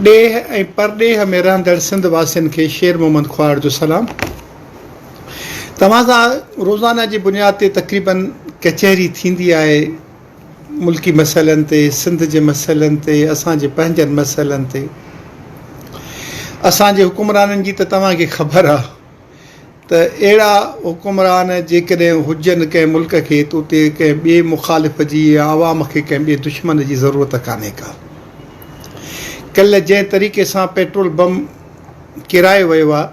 ڏيهه ۽ پرڏيهه ۾ رهندڙ سنڌ واسين کي شير محمد کهاڙ جو سلام. توهان سان روزانه جي بنياد تي تقريباً ڪچهري ٿيندي آهي ملڪي مسئلن تي، سنڌ جي مسئلن تي، اسان جي پنهنجن مسئلن تي. اسان جي حڪمرانن جي ته توهان کي خبر آهي. ته اهڙا حڪمران جيڪڏهن هجن ڪنهن ملڪ کي ته اتي ڪنهن ٻئي مخالف جي يا عوام کي ڪنهن ٻئي دشمن جي ضرورت ڪانهي ڪا. ڪلهه جنهن طريقي سان پيٽرول بم ڪيرايو ويو آهي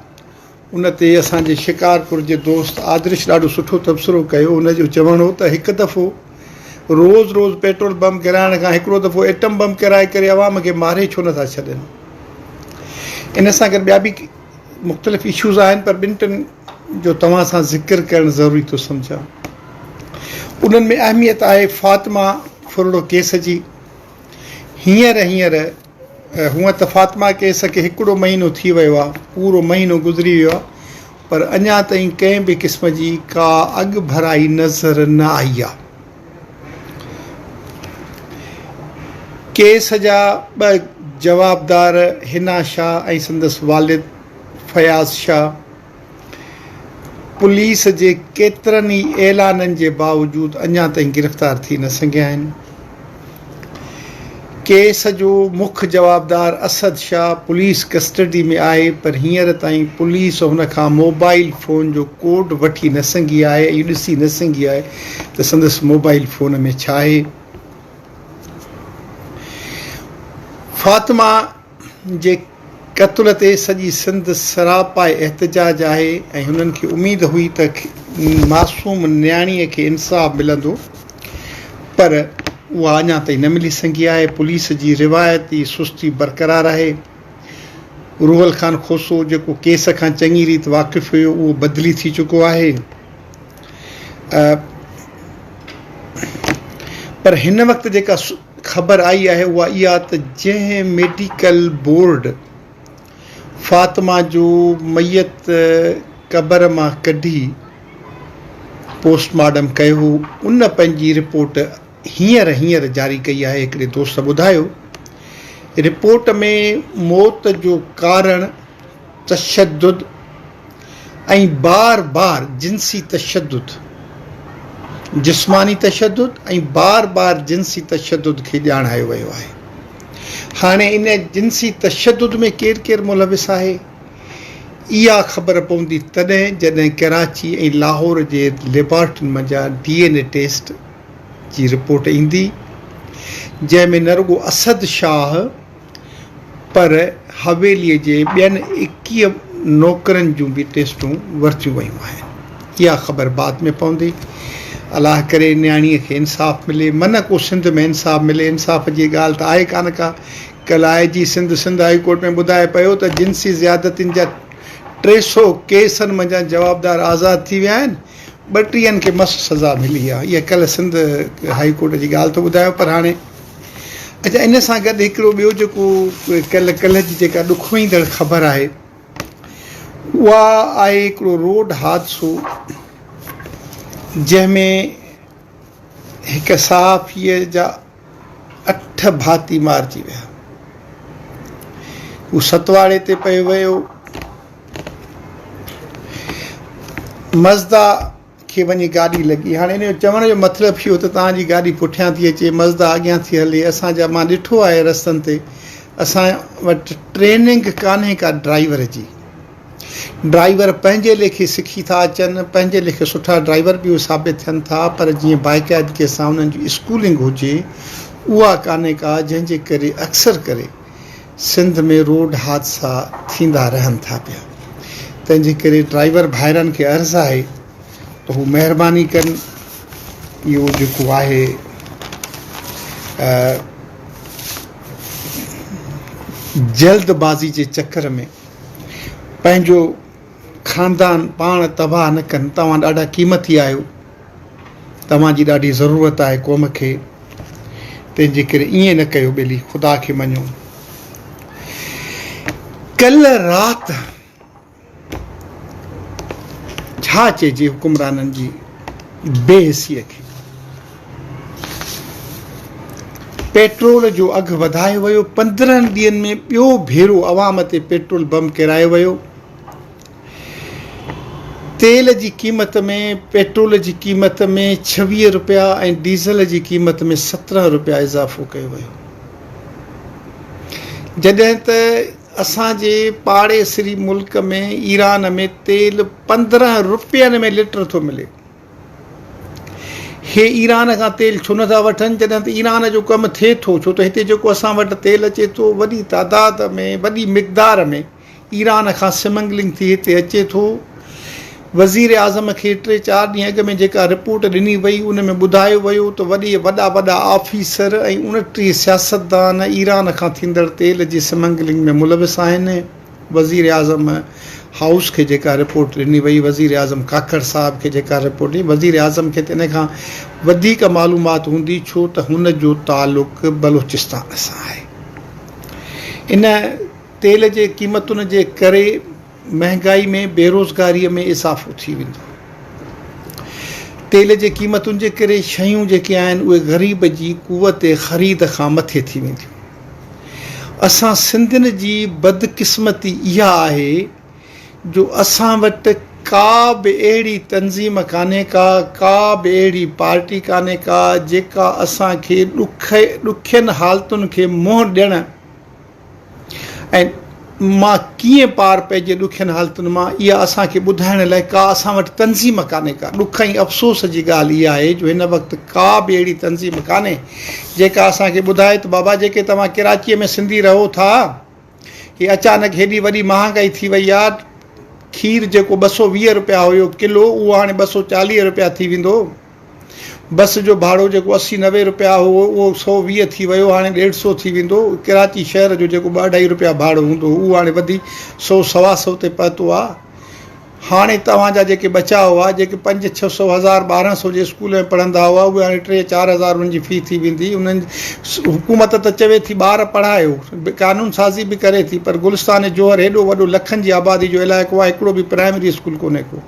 ان تي اسان جي شڪارپور جي دوست آدرش ڏاڍو سٺو تبصرو ڪيو ان جو چوڻ هو ته هڪ دفعو روز روز پيٽرول بم ڪيرائڻ کان هڪڙو دفعو ايٽم بم ڪيرائي ڪري عوام کي ماري ڇو نه ٿا ڇڏين ان سان گڏ ٻيا به مختلف اشوز آهن پر ٻن ٽن جو توهان سان ذڪر ڪرڻ ضروري ٿو سمجهان انهن ۾ اهميت آهي فاطمه ڦرڙو ڪيس جي هينئر هينئر هونء ته فاطمه ڪيس کي هڪڙو مهينو ٿي ويو آهي پورو مهينو گذري ويو آهي پر اڃا تائين ڪنهن به قسم جي ڪا اڳڀرائي نظر نه آئي آهي ڪيس جا ٻه جوابدار حنا شاهه ۽ سندس والد فياض شاهه پوليس جي ڪيترن ئي اعلانن جي باوجود اڃا تائين گرفتار ٿي نه سگهيا آهن. ڪيس جو مک جوابدار اسد شاهه پوليس ڪسٽڊي ۾ آهي پر هينئر تائين پوليس هن کان موبائيل فون جو ڪوڊ وٺي نه سگهي آهي ۽ اهو ڏسي نه سگهي آهي ته سندس موبائيل فون ۾ ڇا آهي. فاطمه جي قتل تي سڄي سنڌ سراپائي احتجاج آهي ۽ هنن کي اميد هئي ته معصوم نياڻي کي انصاف ملندو پر اها اڃا تائين نه ملي سگهي آهي پوليس جي روايتي سستي برقرار آهي روحل خان کوسو جيڪو ڪيس کان چڱي ريت واقف هيو اهو بدلي ٿي چڪو آهي پر هن وقت جيڪا خبر آئي آهي اها اها ته جنهن ميڊيڪل بورڊ فاطمه جو ميت قبر مان ڪڍي پوسٽ مارٽم ڪيو هو ان پنهنجي رپورٽ هينئر هينئر جاري ڪئي آهي هڪڙي دوست ٻڌايو رپورٽ ۾ موت جو ڪارڻ تشدد ۽ بار بار جنسي تشدد، جسماني تشدد ۽ بار بار جنسي تشدد کي ڄاڻايو ويو آهي. هاڻي ان جنسي تشدد ۾ ڪير ڪير ملوث آهي، اها خبر پوندي تڏهن جڏهن ڪراچي ۽ لاهور جي ليبارٽرين منجهان ڊي اين اي ٽيسٽ جي رپورٽ ايندي، جنهن ۾ نه رڳو اسد شاهه، پر حويلي جي ٻين ايڪيهه نوڪرن جون به ٽيسٽون ورتيون ويون آهن، اها خبر بعد ۾ پوندي، الله ڪري نياڻيء کي انصاف ملي، منه ڪو سنڌ ۾ انصاف ملي، انصاف جي ڳالهه ته آهي ڪانه ڪا، ڪل آء جي سنڌ سنڌ هائي ڪورٽ ۾ ٻڌائي پيو ته جنسي زيادتين جا ٽي سؤ ڪيسن منجهان جوابدار آزاد ٿي ويا آهن، ٻٽيهن کي مس سزا ملي آهي، اها ڪل سنڌ هائي ڪورٽ جي ڳالهه ٿو ٻڌايو پر هاڻي. اچا ان سان گڏ هڪڙو ٻيو جيڪو ڪل ڪلهه جي جيڪا ڏک وهيندڙ خبر آهي اها آهي هڪڙو روڊ حادثو جنهن ۾ هڪ صحافي جا اٺ ڀاتي مارجي ويا هو ستواڙي تي پئي ويو مزدا کي وڃي گاڏي لڳي هاڻي ان جو چوڻ جو مطلب اهو ته توهان جي گاڏي پٺيان ٿي اچي مزدا اڳيان ٿي هلي اسان جا مان ڏٺو آهي رستن تي اسان وٽ ٽريننگ ڪانهي ڪا ڊرائيور جي ڊرائيور پنهنجي ليکي سکي ٿا اچن پنهنجي ليکي سٺا ڊرائيور به ثابت ٿين ٿا پر جيئن باقاعدگي سان انهن جي اسڪولنگ هجي اها ڪانهي ڪا جنهن جي ڪري اڪثر ڪري سنڌ ۾ روڊ حادثا ٿيندا رهن ٿا پيا تنهن جي ڪري ڊرائيور ڀائرن کي عرض آهي ته هو مهرباني ڪن اهو جيڪو آهي جلد بازي جي چڪر ۾ پنهنجو خاندان پاڻ تباهه نه ڪن توهان ڏاڍا قيمتي آهيو توهان جي ڏاڍي ضرورت آهي قوم کي تنهن جي ڪري ائين نه ڪيو ٻيلي خدا کي مڃو ڪلهه رات ڇا چئجي حڪمرانن جي بي حسي کي پيٽرول جو اگهه وڌايو ويو پندرهن ڏينهن ۾ ٻيو ڀيرو عوام تي پيٽرول بم ڪيرايو ويو تيل جي قيمت ۾ پيٽرول جي قيمت ۾ ڇويهه رپيا ۽ ڊيزل جي قيمت ۾ سترهن رپيا اضافو ڪيو ويو جڏهن ته اسان جي پاڙيسري ملڪ ۾ ايران ۾ تيل پندرهن رپين ۾ لٽر ٿو ملي هي ايران کان تيل ڇو نٿا وٺن جڏهن ته ايران جو ڪم ٿئي ٿو ڇو ته هتي جيڪو اسان وٽ تيل اچي ٿو وڏي تعداد ۾ وڏي مقدار ۾ ايران کان سمگلنگ ٿي هتي اچي ٿو. وزيراعظم کي ٽي چار ڏينهن اڳ ۾ جيڪا رپورٽ ڏني وئي ان ۾ ٻڌايو ويو ته وڏي وڏا وڏا آفيسر ۽ اڻٽيهه سياستدان ايران کان ٿيندڙ تيل جي سمگلنگ ۾ ملوث آهن. وزيراعظم هائوس کي جيڪا رپورٽ ڏني وئي وزيراعظم کاکر صاحب کي جيڪا رپورٽ ڏني وزيراعظم کي ته ان کان وڌيڪ معلومات هوندي ڇو ته هن جو تعلق بلوچستان سان آهي. ان تيل جي قيمتن جي ڪري مهنگائي ۾ بيروزگاري ۾ اضافو ٿي ويندو. تيل جي قيمتن جي ڪري شيون جيڪي آهن اهي غريب جي قوت خريد کان مٿي ٿي وينديون. اسان سنڌين جي بدقسمتي اها آهي جو اسان وٽ ڪا به اهڙي تنظيم ڪانهي ڪا ڪا به اهڙي پارٽي ڪانهي ڪا جيڪا اسان کي ڏکين حالتن کي منهن ڏيڻ ۽ مان ڪيئن پار پئجي ڏکين حالتن مان اها اسان کي ٻڌائڻ لاء ڪا اسان وٽ تنظيم ڪانهي ڪا ڏک ۽ افسوس جي ڳالهه اها آهي جو هن وقت ڪا به اهڙي تنظيم ڪانهي جيڪا اسان کي ٻڌائي ته بابا جيڪي توهان ڪراچي ۾ سنڌي رهو ٿا هي اچانڪ هيڏي وڏي مهانگائي ٿي وئي آهي کير جيڪو ٻه سؤ ويهه رپيا هيو ڪلو اهو هاڻي ٻه سؤ چاليهه رپيا ٿي ويندو بس جو ڀاڙو جيڪو اسي نوي رپيا هو اهو سؤ ويهه ٿي ويو هاڻي ڏيڍ سؤ ٿي ويندو. ڪراچي شهر جو جيڪو ٻه اڍائي رپيا ڀاڙو هوندو هو اهو هاڻي وڌي سؤ سوا سؤ تي پهتو آهي. هاڻي توهان جا جيڪي ٻچا هئا جيڪي پنج ڇهه سؤ هزار ٻارهن سؤ جي اسڪول ۾ پڙهندا هئا اهي هاڻي ٽي چار هزار انهن جي في ٿي ويندي. انهن حڪومت ته چوي ٿي ٻار پڙهايو قانون سازي به ڪري ٿي پر گلستان جوهر هيڏو وڏو لکن جي آبادي جو علائقو آهي هڪڙو به پرائمري اسڪول ڪونهي ڪو.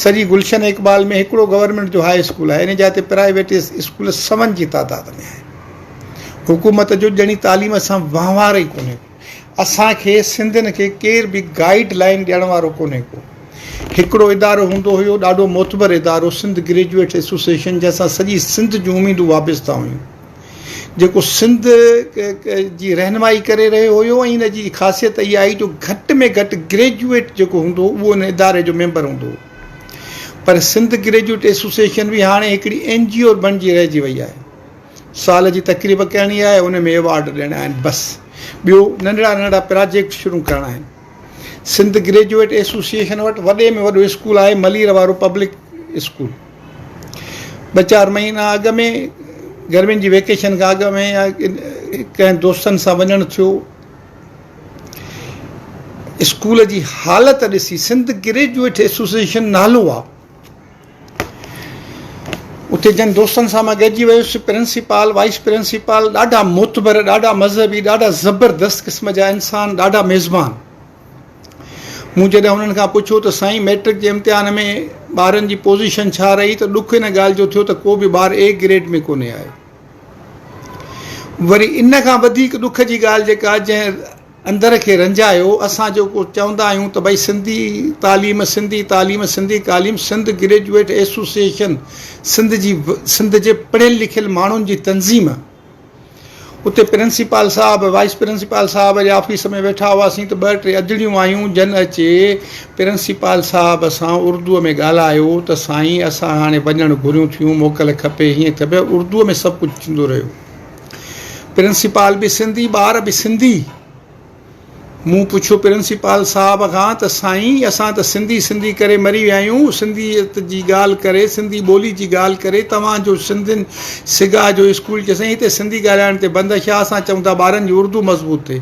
سڄي گلشن اقبال ۾ هڪڙو گورنمينٽ جو هاء اسڪول آهي ان جاء تي پرائيويٽ اسڪول سون جي تعداد ۾ آهن حڪومت جو ڄڻي تعليم سان وهنوار ئي ڪونهي ڪو اسان کي سنڌين کي ڪير به گائيڊ لائين ڏيڻ وارو ڪونهي ڪو هڪڙو ادارو هوندو هيو ڏاڍو معتبر ادارو سنڌ گريجوئيٽ ايسوسيئيشن جنهن سان سڄي سنڌ جون اميدون وابسته هيون جيڪو سنڌ جي رهنمائي ڪري رهيو هيو ۽ ان جي خاصيت اها هئي جو گهٽ ۾ گهٽ گريجوئيٽ جيڪو هوندو هو اهو ان اداري جو ميمبر هوندو هو پر سنڌ گريجوئيٽ ايسوسيئيشن به هاڻي هڪڙي اين جي او بڻجي رهجي وئي آهي سال جي تقريب ڪرڻي آهي ان ۾ ايوارڊ ڏيڻا آهن بس ٻيو ننڍڙا ننڍڙا پراجيڪٽ شروع ڪرڻا آهن سنڌ گريجوئيٽ ايسوسيئيشن وٽ وڏي ۾ وڏو اسڪول آهي ملير وارو پبلڪ اسڪول ٻه چار مهينا اڳ ۾ گرمين جي ويڪيشن کان اڳ ۾ ڪنهن دوستن سان وڃڻ ٿيو اسڪول جي حالت ڏسي سنڌ گريجويٽ ايسوسيئيشن نالو آ اتي جن دوستن سان مان گڏجي ويس پرنسپال وائس پرنسپال ڏاڍا معتبر ڏاڍا مذهبي ڏاڍا زبردست قسم جا انسان ڏاڍا ميزبان مون جڏهن هنن کان پڇيو ته سائين مئٽرڪ جي امتحان ۾ ٻارن جي پوزيشن ڇا رهي ته ڏک ان ڳالهه جو ٿيو ته ڪو به ٻار اي گريڊ ۾ ڪونهي آيو. وري ان کان وڌيڪ ڏک جي ڳالهه جيڪا جنهن اندر کي رنجايو اسان جيڪو چوندا آهيون ته ڀئي سنڌي تعليم سنڌي تعليم سنڌي قاليم سنڌ گريجوئيٽ ايسوسيئيشن سنڌ جي سنڌ جي پڙهيل لکيل ماڻهن جي تنظيم اتي پرنسپال صاحب، وائيس پرنسپال صاحب جي آفيس ۾ ويٺا هئاسين ته ٻه ٽي ادڙيون آيون جن اچي پرنسپال صاحب سان اردوء ۾ ڳالهايو ته سائين اسان هاڻي وڃڻ گهريون ٿيون موڪل کپي هيئن ٿيو پيو اردوء ۾ سڀ ڪجهه ٿيندو رهيو پرنسپال به سنڌي ٻار به سنڌي. مون پڇيو پرنسپال صاحب کان ته سائين اسان ته سنڌي سنڌي ڪري مري ويا آهيون سنڌيت جي ڳالهه ڪري سنڌي ٻولي جي ڳالهه ڪري توهان جو سنڌين سگا جو اسڪول چيو سائين هتي سنڌي ڳالهائڻ تي بند ڇا اسان چئون ٿا ٻارن جي اردو مضبوط ٿئي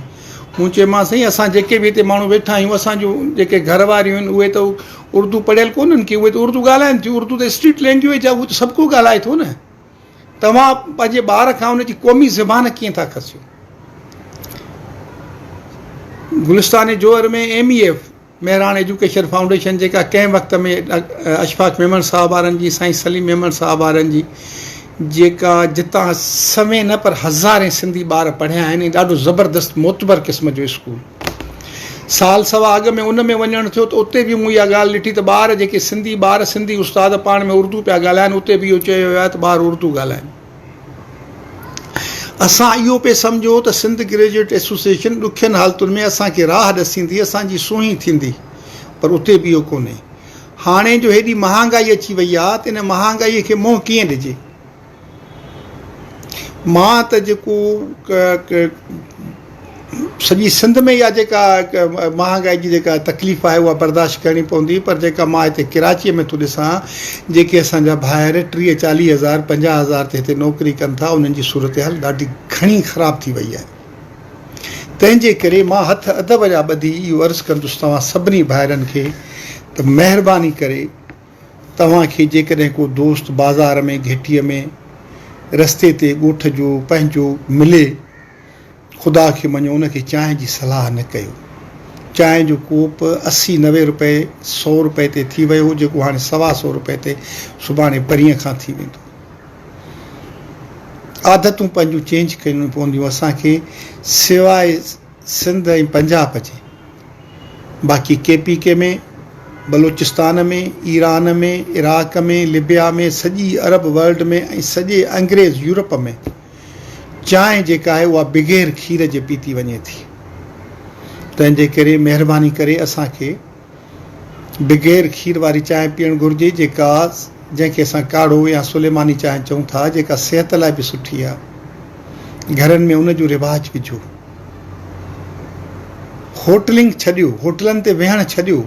مون چيومانس سائين اسان جيڪي به هتي ماڻهو ويٺا آهيون اسان جون جيڪي گهر واريون آهن اهي ته اردو پڙهيل ڪونهن ڪي اهي ته اردو ڳالهائين ٿيون اردو ته اسٽريٽ لينگويج آهي اهو ته سڀ ڪو ڳالهائي ٿو نه توهان پنهنجي ٻار کان ان جي قومي زبان ڪيئن ٿا کسيو؟ Gulistan Jauhar ۾ M E F Mehran education foundation جيڪا ڪنهن وقت ۾ اشفاق ميمڻ صاحب وارن جي سائين سليم ميمڻ صاحب وارن جي جيڪا جتان سوين نه پر هزارين سنڌي ٻار پڙهيا آهن ۽ ڏاڍو زبردست معتبر قسم جو اسڪول سال سوا اڳ ۾ ان ۾ وڃڻ ٿيو ته اتي به مون اها ڳالهه ڏٺي ته ٻار جيڪي سنڌي ٻار سنڌي استاد پاڻ ۾ اردو پيا ڳالهائن اتي به اهو چيو ويو آهي ته ٻار اردو ڳالهائن. اسان اهو پئي سمجهو ته سنڌ گريجوئيٽ ايسوسيئيشن ڏکين حالتن ۾ اسان کي راهه ڏسيندي اسان جي سونهين ٿيندي پر اتي به اهو ڪونهي. هاڻي جو هيڏي مهانگائي اچي وئي آهي ته ان مهانگائي کي منهن ڪيئن ڏجي. مان ته جيڪو سڄي سنڌ ۾ اها جيڪا مهانگائي جي جيڪا تڪليف آهي اها برداشت ڪرڻي پوندي پر جيڪا مان هتي ڪراچيء ۾ ٿو ڏسان جيڪي اسان جا ڀائر ٽيهه چاليهه هزار پنجاهه هزار تي هتي نوڪري ڪن ٿا انهن جي صورتحال ڏاڍي گهڻي خراب ٿي وئي آهي تنهنجي ڪري مان هٿ ادب جا ٻڌي اهو عرض ڪندس توهان سڀني ڀائرن کي ته مهرباني ڪري توهان کي جيڪڏهن ڪو دوست بازار ۾ گهٽيء ۾، رستي تي، ڳوٺ جو، پنهنجو، ملي، خدا کي مڃو ان کي چانهه جي صلاح نه ڪيو. چانهه جو ڪوپ اسي نوي روپئي، سؤ روپئي تي ٿي ويو هو جيڪو هاڻي سوا سؤ روپئي تي سڀاڻي پرينء کان ٿي ويندو. عادتون پنهنجون چينج ڪرڻيون پونديون اسان کي سواء. سنڌ ۽ پنجاب جي باقي K P K ۾ Balochistan ۾ Iran ۾ Iraq ۾ Libya ۾ سڄي عرب ورلڊ ۾ ۽ سڄي انگريز يورپ ۾ چانهه جيڪا آهي اها بغير کير جي پيتي وڃي ٿي تنهن جي ڪري مهرباني ڪري اسان کي بغير کير واري چانهه پيئڻ گهرجي جيڪا جنهن کي اسان ڪاڙهو يا سليماني چانهه چئون ٿا جيڪا صحت لاء به سٺي آهي گهرن ۾ ان جو رواج وجهو هوٽلنگ ڇڏيو هوٽلن تي ويهڻ ڇڏيو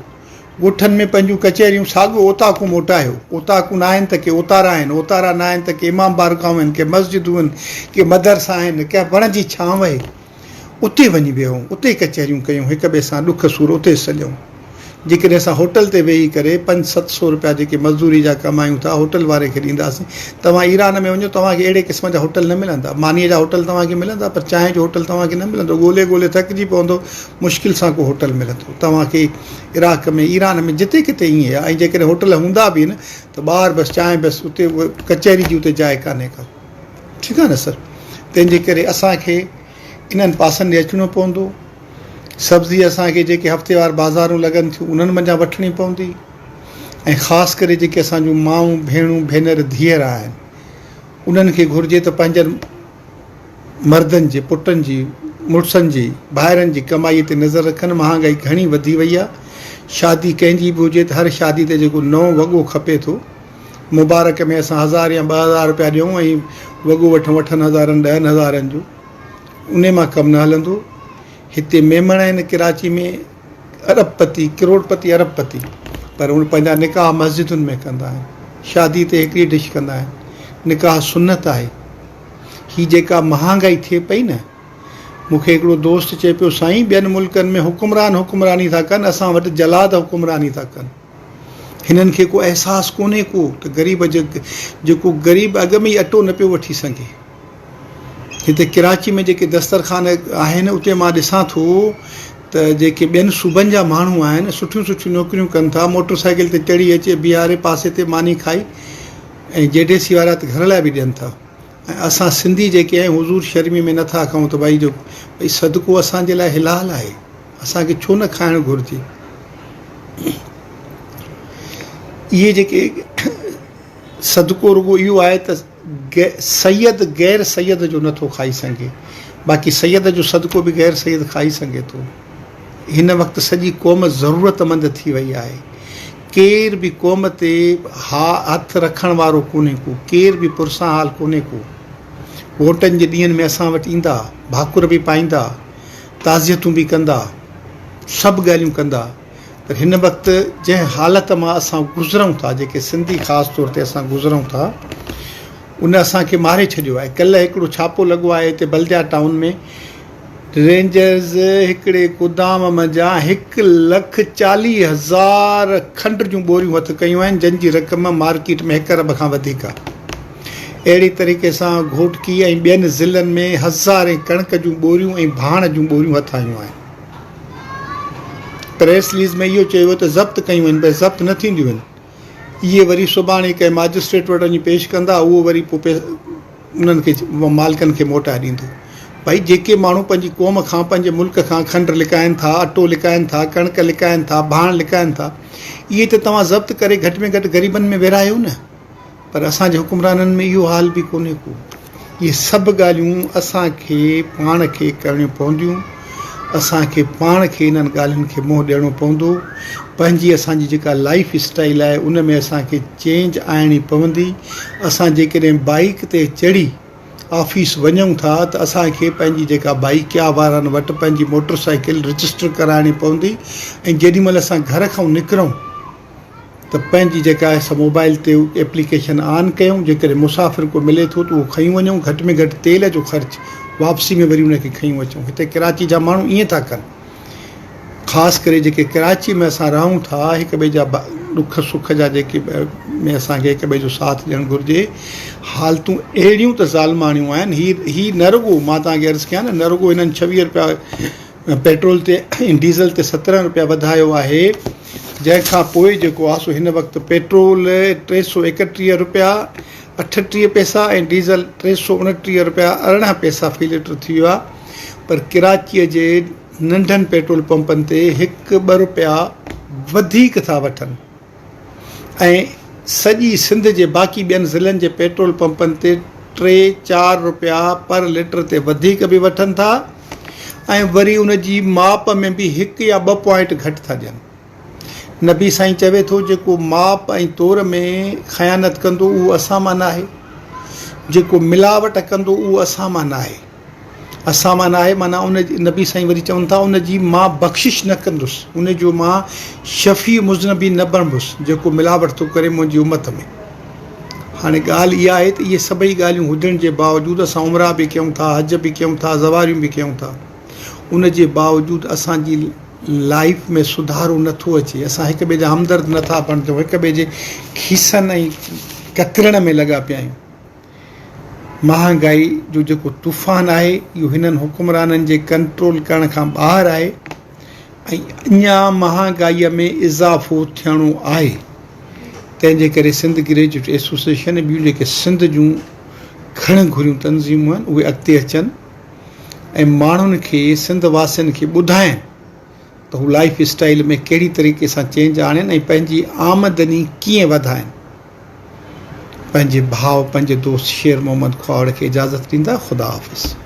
ڳوٺن ۾ پنهنجون ڪچهريون ساڳيو اوطاقون موٽايو اوطاقون آهن ته ڪي اوتارا آهن اوتارا نه آهن ته ڪي امام بارگاهون آهن ڪي مسجدون آهن ڪي مدرسا آهن ڪنهن وڻ جي ڇانو اتي وڃي ويهون، اتي ڪچهريون ڪيون، هڪ ٻئي سان ڏک سور اتي سڄئون. جيڪڏهن اسان هوٽل تي ويهي ڪري پنج ست سو روپيا جيڪي مزدوري جا ڪمايون ٿا، هوٽل واري کي ڏينداسين. توهان ايران ۾ وڃو، توهان کي اهڙي قسم جا هوٽل نه ملندا. مانيء جا هوٽل توهان کي ملندا، پر چانهه جو هوٽل توهان کي نه ملندو. ڳولي ڳولي ٿڪجي پوندو، مشڪل سان ڪو هوٽل ملندو. توهان کي عراق ۾، ايران ۾ جتي ڪٿي ائين آهي. ۽ جيڪڏهن هوٽل هوندا به آهن، ته ٻاهر بس چانهه، بس اتي اهي ڪچهري جي اتي جاء ڪانهي ڪا. ٺيڪ آهي نه سر تنهن جي ڪري اسان کي انهن پاسن ڏي اچڻو پوندو سبزي اسان کي جيڪي هفتيوار بازارون لڳن ٿيون انهن منجهان وٺڻي پوندي ۽ خاص ڪري جيڪي اسان جون مائون ڀيڻون ڀينر ڌيئر آهن انهن کي گهرجي ته پنهنجن مردن جي پٽن جي مڙسن جي ڀائرن جي ڪمائي تي نظر رکن مهانگائي گهڻي وڌي وئي آهي شادي ڪنهن جي به هجي ته هر شادي تي جيڪو نئون وڳو کپي ٿو مبارڪ ۾ اسان هزار يا ٻه هزار رپيا ڏيون ۽ وڳو وٺون اٺن هزارن ڏهن هزارن جو انهي مان ڪم نه هلندو هتي ميمڻ آهن ڪراچي ۾ ارب پتي ڪروڙ پتي ارب پتي پر هو پنهنجا نڪاح مسجدن ۾ ڪندا آهن شادي تي هڪڙي ڊش ڪندا آهن نڪاح سنت آهي هي جيڪا مهانگائي ٿئي پئي نه مون کي هڪڙو دوست چئي پيو سائين ٻين ملڪن ۾ حڪمران حڪمراني ٿا ڪن اسان وٽ جلاد حڪمراني ٿا ڪن هنن کي ڪو احساس ڪونهي ڪو ته غريب جيڪو غريب اڳ ۾ ئي اٽو نه پيو وٺي سگهي. هتي ڪراچي ۾ جيڪي دسترخوان آهن اتي مان ڏسان ٿو ته جيڪي ٻين صوبن جا ماڻهو آهن سٺيون سٺيون نوڪريون ڪن ٿا موٽر سائيڪل تي چڙهي اچي بيهاري پاسي تي ماني کائي ۽ جي ڊي سي وارا ته گهر لاء به ڏين ٿا ۽ اسان سنڌي جيڪي آهيون حضور شرمي ۾ نٿا ڪهون ته ڀائي جو ڀئي صدقو اسان جي لاء حلال آهي اسان کي ڇو نه کائڻ گهرجي اهي جيڪي صدقو رڳو اهو آهي ته سيد غير سيد جو نٿو کائي سگهي باقي سيد جو صدقو به غير سيد کائي سگهي ٿو هن وقت سڄي قوم ضرورت مند ٿي وئي آهي ڪير به قوم تي ها هٿ رکڻ وارو ڪونهي ڪو ڪير به پرسان حال ڪونهي ڪو ووٽن جي ڏينهن ۾ اسان وٽ ايندا ڀاڪر به پائيندا تعزيتون به ڪندا سڀ ڳالهيون ڪندا پر هن وقت جنهن حالت مان اسان گذرون ٿا جيڪي سنڌي خاص طور تي اسان گذرون ٿا ان اسان کي ماري ڇڏيو آهي ڪلهه هڪڙو ڇاپو لڳو آهي هتي بلديا ٽائون ۾ رينجرز هڪڙي گودام منجهان هڪ لک چاليهه هزار کنڊ جون ٻوريون هٿ ڪيون آهن، جن جي رقم مارڪيٽ ۾ هڪ ارب کان وڌيڪ آهي. اهڙي طريقي سان گهوٽڪي ۽ ٻين ضلعن ۾ هزارين ڪڻڪ جون ٻوريون ۽ ڀاڻ جون ٻوريون هٿ آيون آهن. پريس رليز ۾ اهو چيو ويو ته ضبط ڪيون وڃن پر ضبط نه ٿينديون آهن. اهي وري سڀاڻي ڪنهن ماجسٽريٽ وٽ وڃي پيش ڪندا، اهو وري پوء انهن کي مالڪن کي موٽائي ڏيندو. ڀئي جيڪي ماڻهو پنهنجي قوم کان، پنهنجي ملڪ کان کنڊ لڪائين ٿا، اٽو لڪائين ٿا، ڪڻڪ لڪائين ٿا، ڀاڻ لڪائين ٿا، اهي ته توهان ضبط ڪري گهٽ ۾ گهٽ غريبن ۾ ورهايو نه. پر اسان جي حڪمرانن ۾ اهو حال به ڪونهي ڪو. اهي سڀ ڳالهيون اسان کي پاڻ کي ڪرڻيون پونديون. اسان کي پاڻ کي انهن ڳالهين کي منهن ڏيڻو پوندو. پنهنجي اسان جي جيڪا لائيف اسٽائيل آهي ان ۾ اسان کي چينج آڻڻي پوندي. اسان جيڪڏهن بائيڪ تي چڙهي آفيس وڃون ٿا ته اسان کي پنهنجي جيڪا بائيڪيا وارن وٽ پنهنجي موٽر سائيڪل رجسٽر ڪرائڻي پوندي ۽ جيڏي مهل اسان گهر کان نڪرون ته پنهنجي جيڪا آهي سا موبائل تي ايپليڪيشن آن ڪيون جيڪڏهن مسافر ڪو ملي ٿو ته اهو کنيون وڃون گهٽ ۾ گهٽ تيل جو خرچ واپسي ۾ وري ان کي کنيون اچون هتي ڪراچي جا ماڻهو ائين ٿا ڪن خاص ڪري جيڪي ڪراچي ۾ اسان رهون ٿا هڪ ٻئي جا ڏک سک جا جيڪي ۾ اسان کي هڪ ٻئي جو ساٿ ڏيڻ گهرجي حالتون اهڙيون ته ظالماڻيون آهن هي هي نه رڳو مان تان کي عرض ڪيان نه نه رڳو هنن 26 روپيا پيٽرول تي ۽ ڊيزل تي 17 روپيا وڌايو آهي جنهن کان پوء جيڪو آهي سو هن وقت پيٽرول ٽي سؤ ايڪٽيهه رپيا اٺٽيهه پئسا ۽ ڊيزل ٽي سؤ اڻٽيهه رپيا ارڙهن پئسا في لٽر ٿي ويو آهي پر ڪراچيء جي ننڍن پيٽرول پمپن تي هڪ ٻه رپيا وڌيڪ ٿا وٺن ۽ سڄي سنڌ جي باقي ٻين ضلعن جي پيٽرول پمپن تي ٽي چار رپيا پر لٽر تي وڌيڪ به وٺن ٿا ۽ وري ان جي ماپ ۾ به هڪ يا ٻه پوائنٽ گهٽ ٿا ڏين. نبي سائين چوي ٿو جيڪو ماپ ۽ تور ۾ خيانت ڪندو اهو اسان مان ناهي. جيڪو ملاوٽ ڪندو اهو اسان مان ناهي. اسان مان ناهي معنيٰ ان جي نبي سائين وري چون ٿا ان جي مان بخشش نه ڪندس ان جو مان شفيع مذنبين نه بڻبس جيڪو ملاوٽ ٿو ڪري منهنجي امت ۾. هاڻي ڳالهه اها آهي ته اهي سڀئي ڳالهيون هجڻ جي باوجود اسان عمرا به ڪيون ٿا، حج به ڪيون ٿا، زواريون به ڪيون ٿا. ان جي باوجود اسان جي لائيف ۾ سڌارو نه ٿو اچي. اسان هڪ ٻئي جا همدرد نه ٿا بڻجون، هڪ ٻئي جي کيسن ۽ ڪترڻ ۾ لڳا پيا آهيون. مهانگائي جو جيڪو طوفان آهي اهو هنن حڪمرانن جي ڪنٽرول ڪرڻ کان ٻاهر آهي. ۽ اڃا مهانگائيء ۾ اضافو ٿيڻو آهي، تنهن جي ڪري سنڌ گريجوئيٽ ايسوسيئيشن ۽ ٻيون جيڪي سنڌ جون گهڻ گهريون تنظيمون آهن، اهي اڳتي اچن ۽ ماڻهن کي، سنڌ واسين کي ٻڌائين ته هو لائيف اسٽائيل ۾ ڪهڙي طريقي سان چينج آڻين ۽ پنهنجي آمدني ڪيئن وڌائين. پنهنجي ڀاء پنهنجي دوست شير محمد کهاوڙ کي اجازت ڏيندا. خدا حافظ.